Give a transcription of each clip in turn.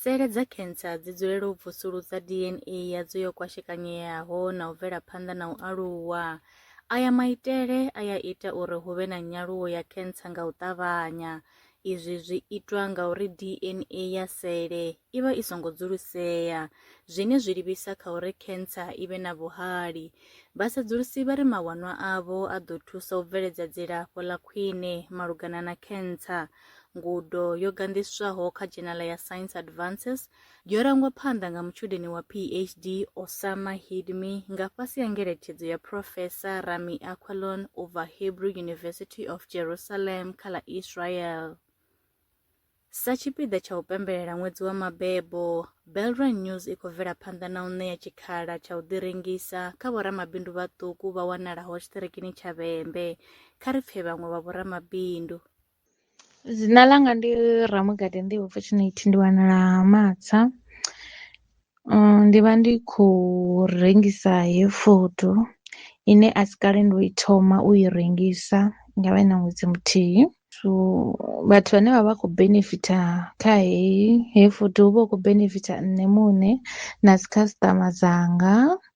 Sele dza khensa dzi dzulela u vusuludza DNA yadzo yo kwashekanyeaho na u bvela phanḓa na u aluwa. Aya maitele a ya ita uri hu vhe na nyaluwo ya khensa nga u ṱavhanya. Izwi zwi itwa nga uri DNA ya sele i vha i songo dzulusea, zwine zwi livhisa kha uri khensa i vhe na vhuhali. Vhasedzulusi vha ri mawanwa avho a ḓo thusa u bveledza dzilafho ḽa khwine malugana na khensa. Ngudo yo gandiswaho kha dzhenala ya Science Advances yo rangwa phanḓa nga mutshudeni wa PhD Osama Hidmi nga fhasi ha ngeletshedzo ya Professor Rami Aquilon u bva Hebrew University of Jerusalem kha ḽa Israel. Sa tshipiḓa tsha u pembelela ṅwedzi wa mabebo, Belrand News i khou bvela phanḓa na u ṋea tshikhala tsha u ḓirengisa kha vhoramabindu vhaṱuku vha wanalaho tshiṱirikini tsha Vhembe. Kha ri pfe vhaṅwe vha vhoramabindu. Dzina ḽanga ndi Ramugede Nḓivho Fortunate ndi wanala Ha Matsa, ndi vha ndi khou rengisa heyi founu ine a si kale ndo i thoma u i rengisa ngavhe na ṅwedzi muthihi. So vhathu vhane vha vha khou benefitha kha heyi heyi founu hu vha hu khou benefitha nṋe muṋe na dzi customer dzanga.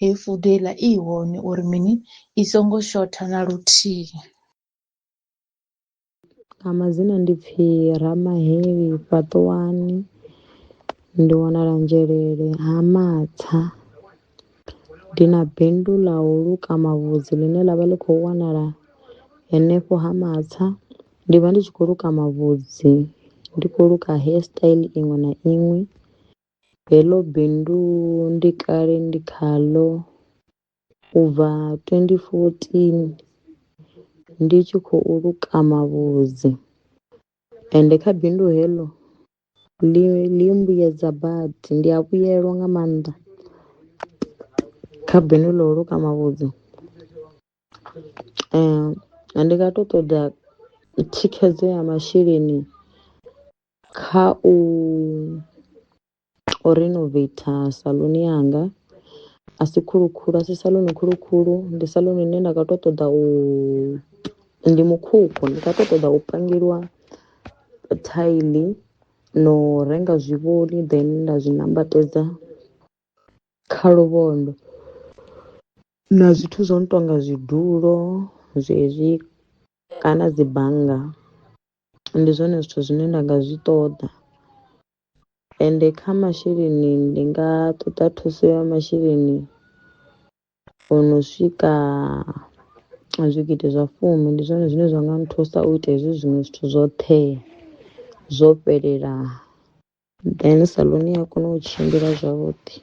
Hei fudo heiḽa i hone uri mini i songo shotha na luthihi. Nga madzina ndi pfi Ramaheli Fhaṱuwani ndi wanala Nzhelele ha Matsa. Ndi na bindu ḽa u luka mavhudzi ḽine ḽa vha ḽi khou wanala henefho ha Matsa. Ndi vha ndi tshi khou luka mavhudzi ndi khou luka hair style iṅwe na iṅwe. Heḽo bindu ndi kale ndi khaḽo u bva twendi fotini ndi tshi khou luka mavhudzi ende kha bindu heḽo ḽi ḽi mbuyedza badi ndi a vhuyelwa nga maanḓa kha bindu ḽa u luka mavhudzi. Ndi nga to ṱoḓa thikhedzo ya masheleni Kha u u renovator saluni yanga a si khulu khulu a si saluni khulu khulu ndi saluni ine nda kho to ṱoḓa u ndi mukhukhu ndi kho to ṱoḓa u pangeliwa thaili na u renga zwivhoni then nda zwi nambatedza kha luvhondo na zwithu zwo no tonga zwidulo zwezwi kana dzi bannga. ndi zwone zwithu zwine nda nga zwi ṱoḓa ende kha masheleni ndi nga ṱoḓa thuso ya masheleni o no swika zwigidi zwa fumi ndi zwone zwine zwa nga nthusa u ita hezwi zwiṅwe zwithu zwoṱhe zwo fhelela. Then saḽuni ya kona u tshimbila zwavhuḓi.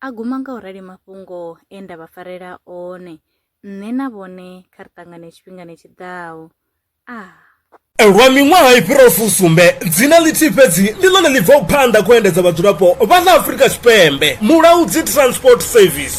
A guma nga u rali mafhungo e nda vha farela one. Nṋe na vhone kha ri ṱangane tshifhingani tshi ḓaho. Ah. Lwa miṅwaha i fhiraho fusumbe, dzina ḽithihi fhedzi ndi ḽone ḽi bvaho phanḓa kha u endedza vhadzulapo vha ḽa Afrika Tshipembe, Mulaudzi Transport Service.